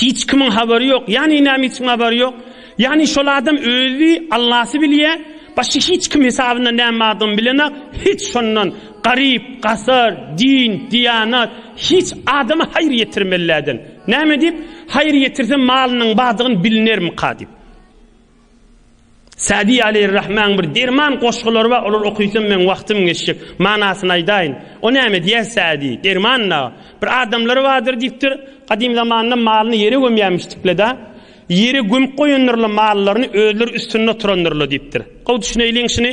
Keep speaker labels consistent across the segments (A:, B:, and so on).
A: Hiç kimiň habary ýok. Ýagny näme hiç kimiň habary ýok? Ýagny şol adam özi Allasy bilýär, başga hiç kim hesabyna näme bardygyny bilenak, hiç şondan garyp, gasar, din, diýanat, hiç adama haýyr ýetirmelläden. Näme diýip, haýyr ýetirsem malynyň bardygyny bilnermika diýip. Sadi Aleýrrahmanyň bir derman goşgulary bar, olary okyysam meň wagtym geçjek. Manasyny aýdaýyn. O näme diýýär Sadi? Derman-da. Bir adamlary bardyr diýipdir, gadym zamanda malyny ýere gömýärmişdikle-de, ýere gömüp goýandyrlar mallaryny, özleri üstünde oturandyrlar diýipdir. Gowy düşüneýliň şuny.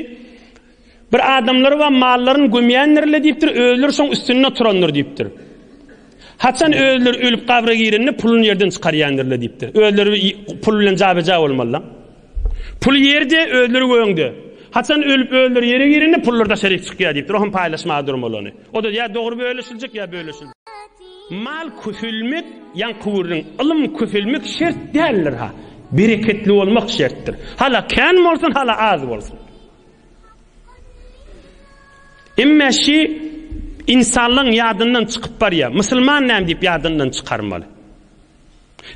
A: Bir adamlary we mallaryny gömýändirler diýipdir, özleri şoň üstünde oturandyr diýipdir. Haçan özleri ölüp gabra girende puluny ýerden çykarýandylar diýipdir. Özleri pul bilen jabeja bolmalylar. Pul ýerde, özleri göňde. Haçan ölüp özleri ýere girende pullar daşaryk çykýar diýipdir. Ohan paýlaşma durmalyny. O da ýa dogry bölüşiljek ýa bölüşiljek. Mal küfülmek, ýan kuwurlyň ylym küfülmek şert däldir ha. Bereketli bolmak şertdir. Hala kän bolsun, hala az bolsun. Emme şi insanlygyň ýadyndan çykyp barýar. Musulman näme diýip ýadyndan çykarmaly?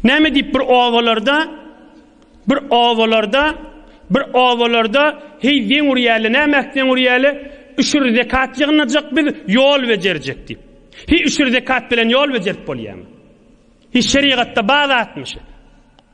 A: Näme diýip bir obalarda bir obalarda bir obalarda heý zeň urýarly näme zeň urýarly üşür zekat ýygnajak biz ýol bejerjek diýip. Heý üşür zekat bilen ýol bejerip bolýarmy? Heý şerigatda bazatmy şu?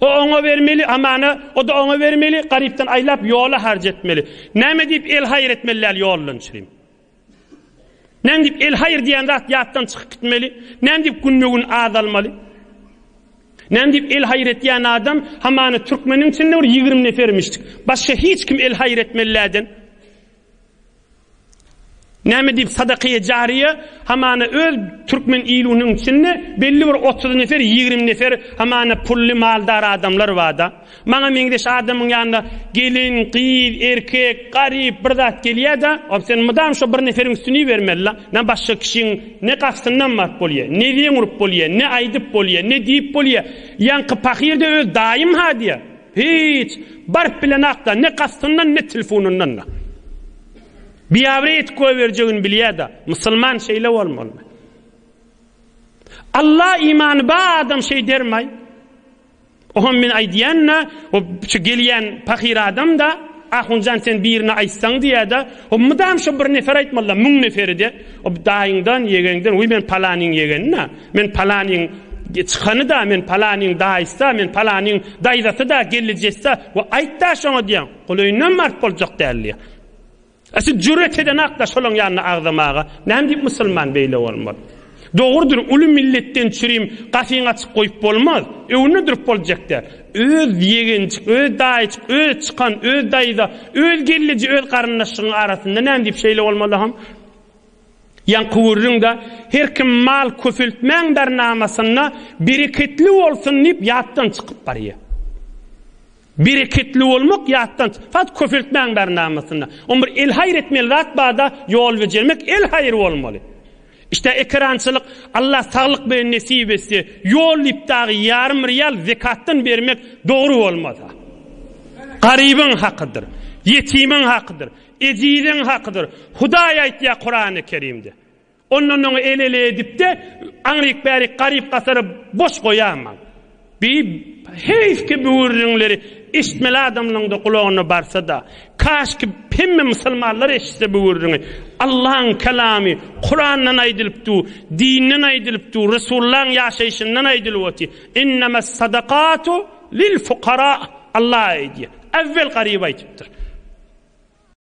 A: O oňa bermeli, amana, o-da oňa bermeli, garypdan aýlap ýola harç etmeli. Näme diýip el-haýyr etmeli däl ýoldan çyryp? Näme diýip el-haýyr diýen zat ýatdan çykyp gitmeli? Näme diýip günbe-gün azalmaly? Näme diýip el-haýyr etýän adam, hamana türkmeniň içinde bir ýigrimi nefermişdik. Başga hiç kim el-haýyr etmeli dälden. Näme diýip sadakaýy jaryýe hamana öz türkmen ilunyň içinde belli bir otuz nefer ýigrimi nefer hamana pully maldar adamlar barda. Maňa meňzeş adamyň ýanyna gelin, gyz, erkek, garyp bir zat gelýäda ol sen mydam şo bir neferiň üstüni ibermelila. Nä başga kişiň ne gastyndan baryp bolýa, ne zeň urup bolýa, ne aýdyp bolýa, ne diýip bolýa. Ýaňky pahyr-da öz daýym-ha diýä. Hiç, baryp bilenakda, ne kastyndan, ne tilfunyndan-da. Biabre etip goýberjegini bilýä-da, musulman şeýle bolmalymy? Alla imany bar adam şeý dermaý. Oňam men aýdýan-da, o şu gelýän pahyr adam-da, Ahunjan sen birine aýtsaň diýýä-de, o mydam şu bir nefer aýtmaly-da, müň neferi-de, o daýyňdan, ýegeňden, uý men palanyň ýegeni-da, Men palanyň çykany-da, men palanyň daýysy-da, men palanyň daýzasy-da, gelnejesisi-da we aýt-da şoňa diýýän. Gulaýynam mart boljak däl diýýän. A siz jüret edenak-da şolaň ýanyna agzamaga. Näme diýip musulman beýle bolmaz? Dogrudyr, uly milletden çürim gapyňy açyk goýup bolmaz. Öňüne durup boljak däl. Öz ýegenjik, öz daýyjyk, öz çykan, öz daýza, öz gelneje, öz garyndaşyňyň arasynda näme diýip şeýle bolmaly-ham? Ýaňky gürrüňde her kim mal köpeltmäň bernamasynda bereketli bolsun diýip ýatdan çykyp barýar. Bereketli bolmak ýatdan, fakt köpeltmäň bernamasynda. Oň bir el haýyr etmeli zat barda ýol bejermek el haýyr bolmaly. İşte ekerançylyk Allah saglyk bilen nesip etse, ýol diýip dagy ýarym real zekatdan bermek dogry bolmasa. Garybyň hakydyr. Ýetimiň hakydyr. Ejiziň hakydyr. Hudaý aýtýar Kurany Kerimde. Ondan oňa el-ele edip-de, aňryk-bärik garyp-gasary boş goýaman. Bi heýfki bu gürrüňleri eşitmeli adamlaryň-da gulagyna barsa-da. Kaşki hemme musulmanlar eşitse bu gürrüňi. Allaň Kelamy, Kurandan aýdylyp dur, dinden aýdylyp dur, Resullaň ýaşaýşyndan aýdylyp otyr. Innemes sadakatu lil fukara. Allah aýdýar. Äwwel garyba aýdypdyr.